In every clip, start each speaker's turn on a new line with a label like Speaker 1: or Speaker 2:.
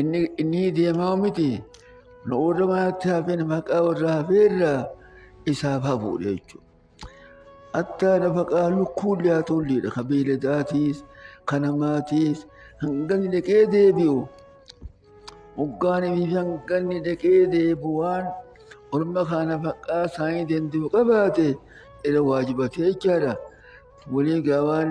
Speaker 1: Inni inni deemaa miti nu warra manatti hafeen maqaa warra hafeerra isaaf hafuudha jechuudha. Attaa nafaqaa lukkuun liyaatolleedha kan beeladaatiis kan namaatiis hanganni dhaqee deebi'u hoggaanii fi hanganni dhaqee deebi'u waan orma kaa nafaqaa isaanii danda'u qabaate irra waajibatee jechaadha. Walii gaawaan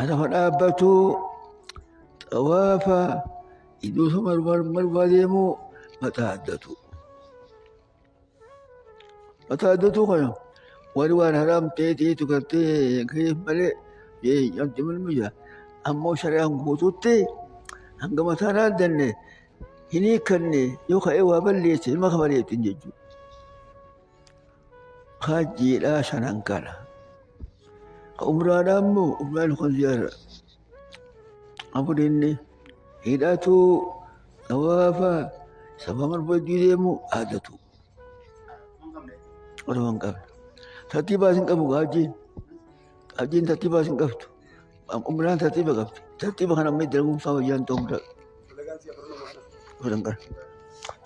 Speaker 1: Anama dhaabbatuu xawaafa iddoota marmaa deemuu mataa addatuu. Mataa addatuu kana warri waan haraam ta'eetii tukattee keef malee jeeyyamti mul'isa. Ammoo shari'aan guutuutti hanga mataan addanne hin hiikkanne yoo ka'ee waa balleesse ilma kafaleetti jechuudha. Hajjiidhaa shanan kana. Umraadhaa immoo umraan kun ziyaara. Afurinni hidhatuu xawaafaa sababa barbaadduu deemuu aadatu. Otoo hin qabne. Tartiibaas hin qabu hajjiin. Hajjiin tartiibaas hin qabdu. Umraan tartiiba qabdi. Tartiiba kana amma dalaguun isaa wayyaan ta'uu danda'a.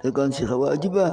Speaker 1: Dalagaan si waajibaa.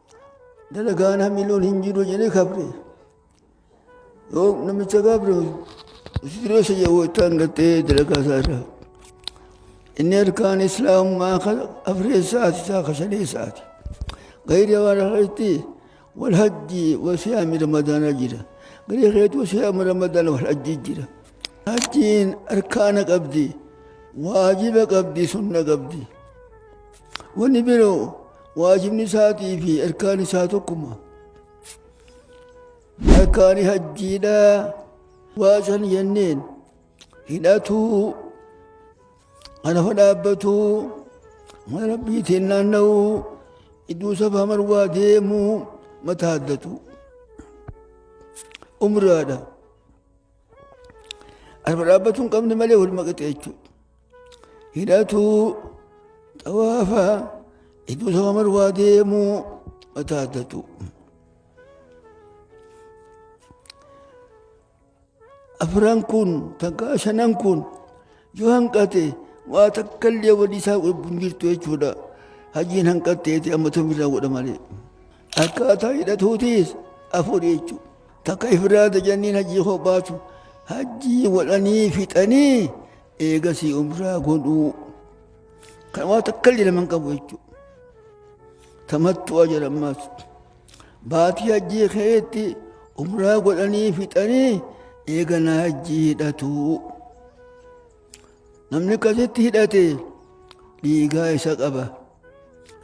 Speaker 1: dalagaan hamiloon hin jiru jedhee kabre yoo namicha kabre sireessa jedhu ittaan gattee dalagaa isaa irraa inni harkaan islaamummaa kan afreessaati isaa kan shaneessaati gayri waan irratti wal hajji wasiyaami ramadaanaa jira gayri keetu wasiyaami ramadaana wal hajji jira hajjiin harkaana qabdi waajiba qabdi sunna qabdi Wanni biroo waajibni isaatii fi erkaan isaa tokkuma. Erkaani hajjiidhaa waa san jenneen hidhatuu anafa dhaabbatuu mana rabbiitiin naanna'uu iddoo safaa marwaa deemuu mataa addatuu umraadha. Arba dhaabbatuu hin qabne malee wal maqaxee jechuudha. Hidhatuu xawaafa iddoo sama marwaa deemuu mataa addatu. Afran kun takka shanan kun yoo hanqate waa takka illee wanni isaa godhu hin jirtu jechuudha hajjiin hanqatteeti amma tomirraa godha malee akkaataa hidhatuutis afur jechuudha takka ifraada janniin hajjii kophaatu hajjii godhanii fixanii eegasii umraa godhuu kan waa takka illee nama hin qabu jechuudha tamattu'a jedhamaas. Baatii hajjii keetti umraa godhanii fixanii eegana hajjii hidhatu. Namni akkasitti hidhate dhiigaa isa qaba.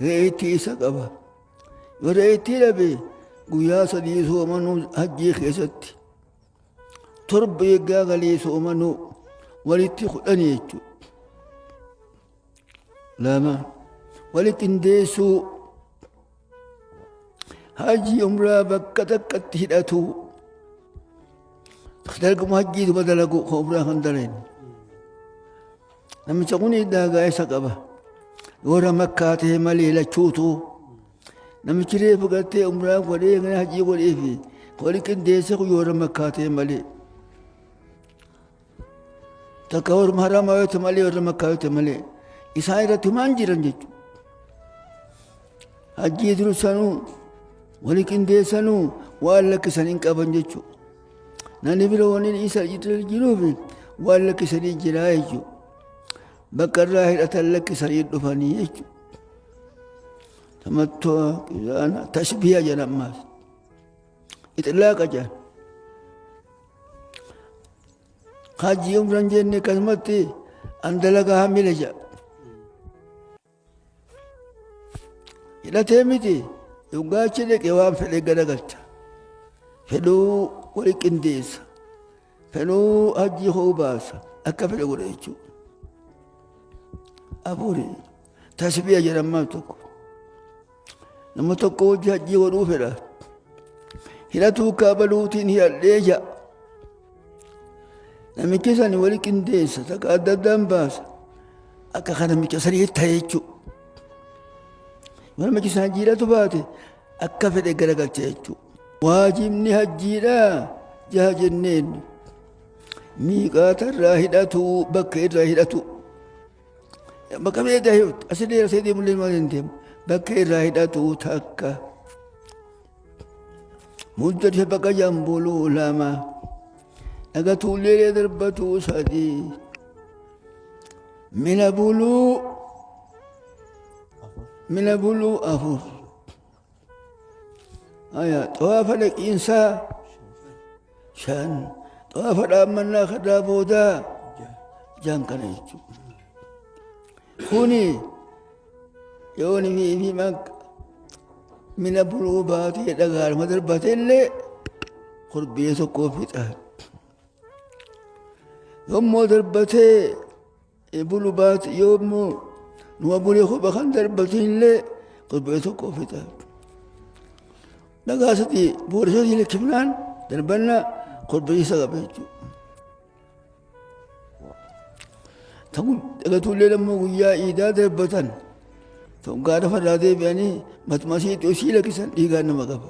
Speaker 1: Re'eetti isa qaba. Yoo re'eetti hidhame guyyaa sadii soomanuu hajjii keessatti. Torba eeggaa galii soomanuu walitti kudhanii jechuudha. lama wali qindeessuu hajii umraa bakka takkatti hidhatu darguma hajjii duba dalagu ka umraa kan daleen namicha kun daagaa isa qaba warra makkaa ta'e malee lachuutu namichi reefu gartee umraa godhee kana hajii godhee fi wali qindeesse kun warra makkaa ta'e malee takka warra haramaa yoo ta'e malee warra makkaa yoo ta'e malee isaan irratti humaan jiran jechuudha. Hajjii dursanuu wali qindeessanuu waan lakkisan hin qaban jechuudha. Namni bira waliin isa jiruuf waan lakkisanii jiraa jechuudha. Bakka irraa hidhatan lakkisanii dhufanii jechuudha. Tamattu'a, tashbiya jedhamaas. Ixlaaqa jedhan. Hajji umran jenne akkasumatti an dalagaa hammile jedha. Hidhatee miti dhuggaachi dhaqee waan fedhe garagalcha. Fedhuu wali qindeessa. Fedhuu hajji hoo baasa akka fedhe godha jechuudha. Afurii tasbiya jedhan maal tokko. Nama tokko hojii hajjii godhuu fedha. Hidhatuu kaabaluutiin hidhadhee ja'a. Namichi sani wali qindeessa takka adda addaan baasa. Akka kan namicha sanii ta'e jechuudha. Yoo namichi sana jiidhatu baate akka fedhe garagalcha jechuudha. Waajibni hajjiidhaa jaha jenneen miiqaata irraa hidhatu bakka irraa hidhatu. Bakka beektaa himtu asillee asii deemullee maal hin deemu bakka irraa hidhatu takka. Muddate bakka jambuluu lama dhaga tuullee darbatu sadii mina buluu mina buluu afur. Aya, xawaafa dhaqiinsaa shan xawaafa dhaammannaa kadaa boodaa jaan kana jechuudha. Kuni yoo nimi fi makka mina buluu baatee dhagaadhuma darbateellee kurbee tokkoo fixaan. Yommuu darbatee Ebulu baate yoo immoo nu abulee kopha kan darbatee illee torbee tokko fita. Dhagaa sadii boorisoota lakkifnaan darbanna torbee isa qaba jechuudha. Ta'u dhagatuullee immoo guyyaa iidaa darbatan ta'u gaara fardaa deebi'anii matuma isii dhiyoo isii lakkisan dhiigaan nama qaba.